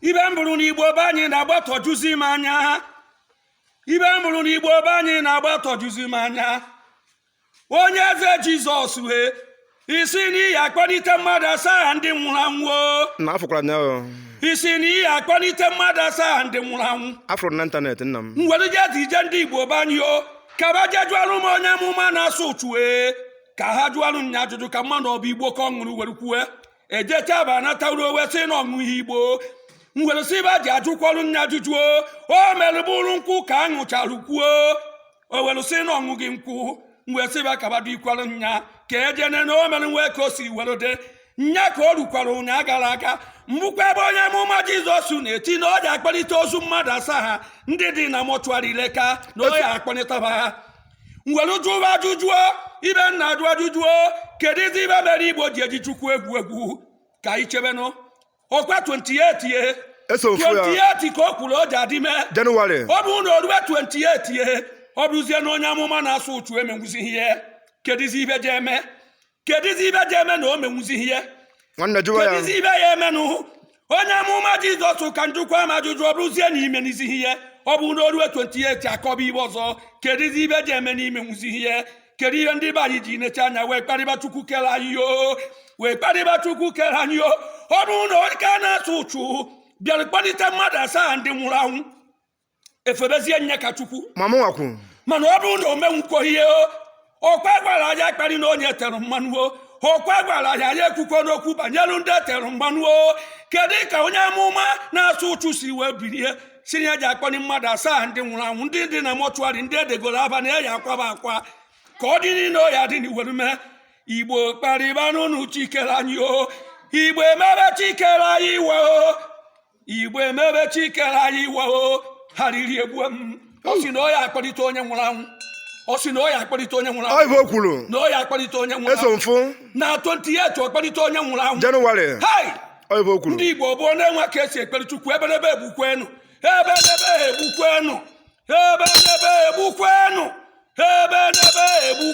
ibe m bụrụ na igbo be anyị na-agbatọjuzi m anya ibe m bụrụ na igbo be anyị na-agbatọjuzi m anya onye eze jizọs ee ị sị na ị ya akpọlite mmadụ asaa ndị nwụrụ anwụ o. nna afụkwara m ya o. ị sị na ị ya akpọlite mmadụ asaa ndị nwụrụ anwụ afụrụ m na ịntanetị nna m were jezie ije ndị igbo be anyị o ka ba je jụọrụ m onye amụma na-asa uchu ee ka ha jụọrụ m ya ajụjụ ka m manụ ọ bụ igbo ka ọ ṅụrụ were kwue ejecha ba anataruo wee sị na ọ ṅụghị igbo m were sị ba je jụkwọrụ m nya ajụjụ o mere bụrụ nkwụ ka ọ ṅụchara kwuo o were sị na ọ ṅụghị nkwụ m wee sị ba ka ba dikwere nya ka ejene na o mere nwee ka o si were dị nya ka o rukwara ụnyaa gara aga m bụkwa ebe onye amụma jizọs na-eti na ọ je akpọlite ozu mmadụ asaa ha ndị dị na mọchụarị leka na ọ je akpọlitaba ha m were jụba ajụjụ o ibe m na-ajụ ajụjụ o kedizi ibe mere igbo ji eji chukwu egwu egwu ka anyị chebenụ ọkwa 28 ye Eso ofu ya. 28 ka o kwuru o je adị ime Jenụwarị. ọ bụrụ na o rube 28 ye ọ bụrụzie na onye amụma na-asa uchu emenwuzighị ihe kedizi ibe je eme kedụzi ibe je eme na o menwuzighị ya nwanne jụwa ya kedụzi ibe ya emenụ onye amụma jizọs ka m jụkwama ajụjụ ọ bụrụzie na i menwuzighị ihe ọ bụ na o rue 28 akọba ibe ọzọ kedụzi ibe je eme na i menwuzighị ihe kedu ihe ndị be anyị ji necha anya wee kparịba chukwu kere anyị o wee kparịba chukwu kere anyị o ọ bụrụ na onye ka na-asa uchu bịara kpọlite mmadụ asaa ndị nwụrụ anwụ e febezie nya ka chukwu ma mụnwa kwu mana ọ bụrụ na o menwukwo ihe o ọkwa a gwara anyị akparịna onye e tere mmanụ o ọkwa a gwara anyị anyị ekwukwona okwu banyere ndị e tere mmanụ o kedu ka onye amụma na-asa uchu si wee bilie sị na ya je akpọni mmadụ asaa ndị nwụrụ anwụ ndị dị na mọchụarị ndị edegoro aba na eyi akwaba akwa ka ọ dị niile o ya dị n'iwere mee igbo kparịbanụnụ chi kere anyị o igbo emebe chi kere anyị iwe o igbo emebe chi kere anyị iwe o arịrị egbue m ọ sị na ọ ya akpọlite onye nwụrụ anwụ ọ sị na ọ ya akpọlite onye nwụrụ anwụ ọ ive o kwuru na ọ ya akpọlite onye nwụrụ eso anwụ mfụ na 28 ọ kpọlite onye nwụrụ anwụ jenụwarị hai ọ ive o kwuru ndị igbo bụ na-enwe ka e si ekpere chukwu ebenebe egbukwenu ebenebe egbukwenu ebenebe egbukwenu ebenebe egbukwenu